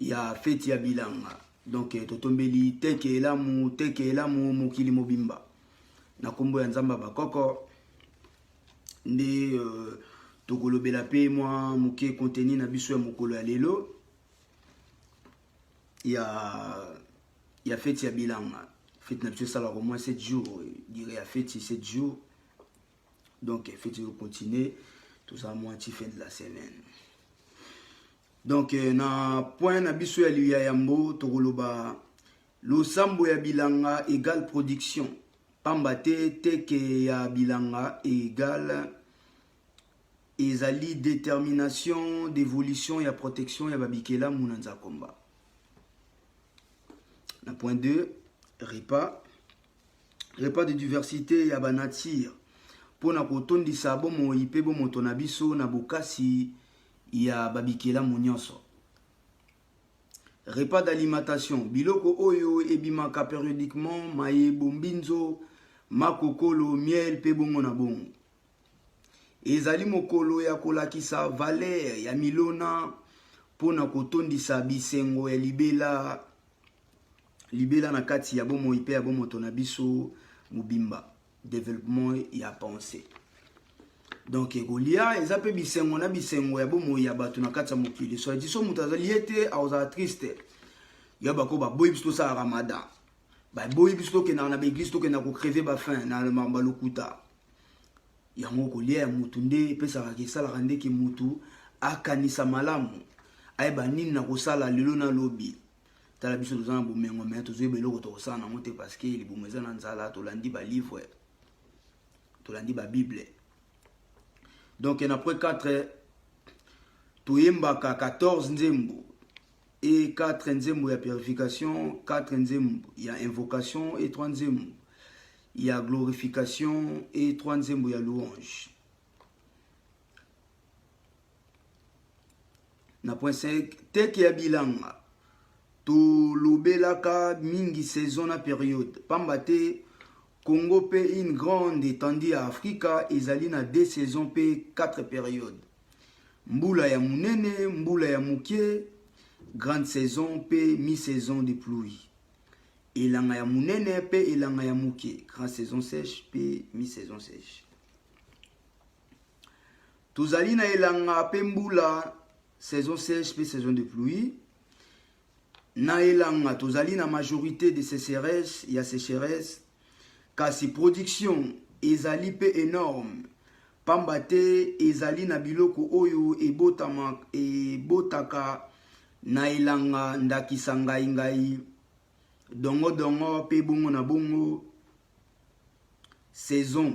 ya feti ya bilanga donc eh, totombeli teke elamu teke elamu mokili mobimba na nkombo ya nzambe ya bakoko nde euh, tokolobela mpe mwa moke konteni na biso ya mokolo ya lelo ya ya feti ya bilanga feti na biso esalaka moins 7 jours eh, dire ya feti 7 jours donc eh, feti ezokontinue toza mwa ti fin de la semaine Donc euh, na point na biso ya liya yambo tokoloba losambo ya bilanga égale production pamba te teke ya bilanga égale ezali détermination d'évolution ya protection ya babikelamu na nzakomba na point 2 repas repas de diversite ya banature mpo na kotondisa bomoi mpe bomoto na biso na bokasi ya babikelamu nyonso repas d'alimentation biloko oyo ebimaka periodiquement mayebo mbinzo makokolo miel mpe bongo na bongo ezali mokolo ya kolakisa valere ya milona mpo na kotondisa bisengo ya libela Libela na kati ya bomoi mpe ya bomoto na biso mobimba, developpement ya pensee. Donc ekolia eza mpe bisengo na bisengo ya bomoi ya bato na kati ya mokili. Soit dit so moto azali ye te akozala triste. Ya bako baboyi biso tosala ramadan. Baboyi biso tokendaka na baeglise tokendaka kocreve bafin na makambo ya lokuta. Yango kolia ya motu nde epesaka esalaka nde ke motu akanisa malamu ayeba nini nakosala lelo na lobi. tala biso toza na bomengo me tozoyeba eloko tokosala nango te parce que libumu eza na nzala tolandi balivre tolandi babible donc na près 4 toyembaka 14 nzembo e 4 nzembo ya purification 4 nzembo ya invocation e 3 nzembo ya glorification e 3 nzembo ya louange na point 5 teke ya bilanga tolobelaka mingi saison na periode pamba te congo mpe une grande étendue ya afrika ezali na deux saison mpe 4 periode mbula ya monene mbula ya moke grande saison mpe mi saison de pluie elanga ya monene mpe elanga ya moke grande saison sèche mpe mi saison sèche Tozali na elanga pe mbula, saison sèche pe saison de pluie. Na elanga tozali na majorité de sécheresse ya sécheresse, kasi production ezali pe enorme pamba te ezali na biloko oyo ebotama ebotaka na elanga ndakisa ngai ngai, dongo dongo pe bongo na bongo. Saison,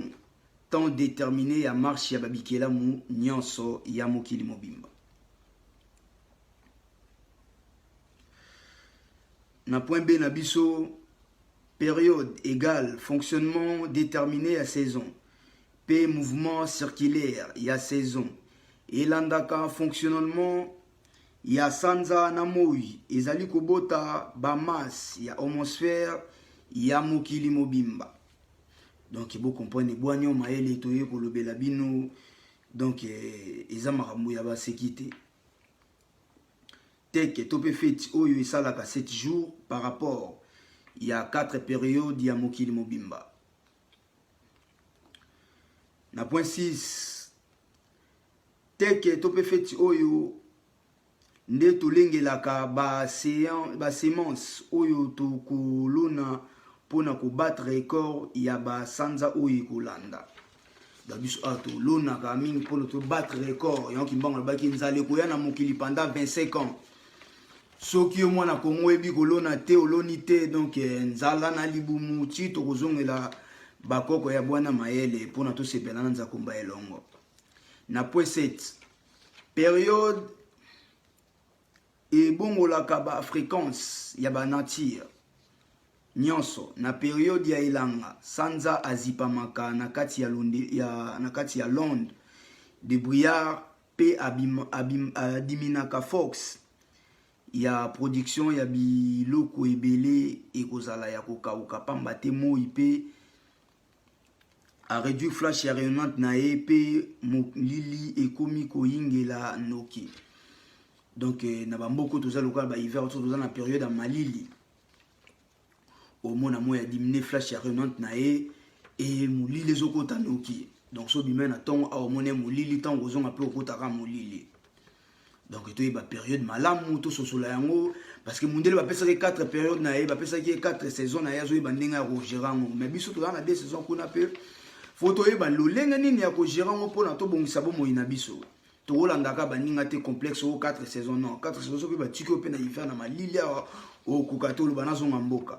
temps determine ya marche ya ba bikelamu nionso ya mokili mobimba. Na point B na biso, periode égale fonctionnement determine ya saison pe mouvement circulaire ya saison elandaka fonctionnement ya sanza na moi ezali kobota bamasse ya homosphère ya mokili mobimba donc bokomprene bwanio mayele toye kolobela bino donc eh, eza makambo ya baseki te teke to mpe feti oyo esalaka 7 jours par rapport ya 4 periode ya mokili mobimba na point 6 teke to mpe feti oyo nde tolengelaka basemence oyo tokolona mpo na kobattre record ya basanza oyo ekolanda na biso awa tolonaka mingi mpo na tobattre record yango kimbango alobaki nzala ekoya na mokili pendant 25 ans Soki yo mwana Congo oyebi kolona te oloni te donc eh, nzala na libumu ti tokozongela bakoko ya bwana mayele mpo na tosepela na nzakomba elongo na pweset periode ebongolaka ba fréquence ya ba nature nyonso na periode ya elanga sanza azipamaka na kati ya, lundi, ya, na kati ya londe de brillard pe abima, abim, adiminaka force ya production ya biloko ebele ekozala ya kokauka pamba te moi pe a réduire flash ya rayonnante na ye pe molili ekomi koyingela noki donc eh, na bamboka toza lokola ba hiver toza na periode ya malili omona moi ya dimine flash ya renante na ye e molili ezokota noki donc so obimai na ntongo awa omoni molili ntango ozonga mpe okotaka molili donc toyeba periode malamu tososola yango parce que mundele bapesaki 4 periode na ye bapesaki ye 4 saison na ye azoyeba ndenge ya kogere yango mais biso toza na 2 saison kuna mpe fo toyeba lolenge nini ya kogere yango mpona tobongisa bomoi na biso tokolandaka baninga te complexe o 4 saison non 4 saison soki batiki yo mpe na hiver na malili awa okoka te oloba nazonga mboka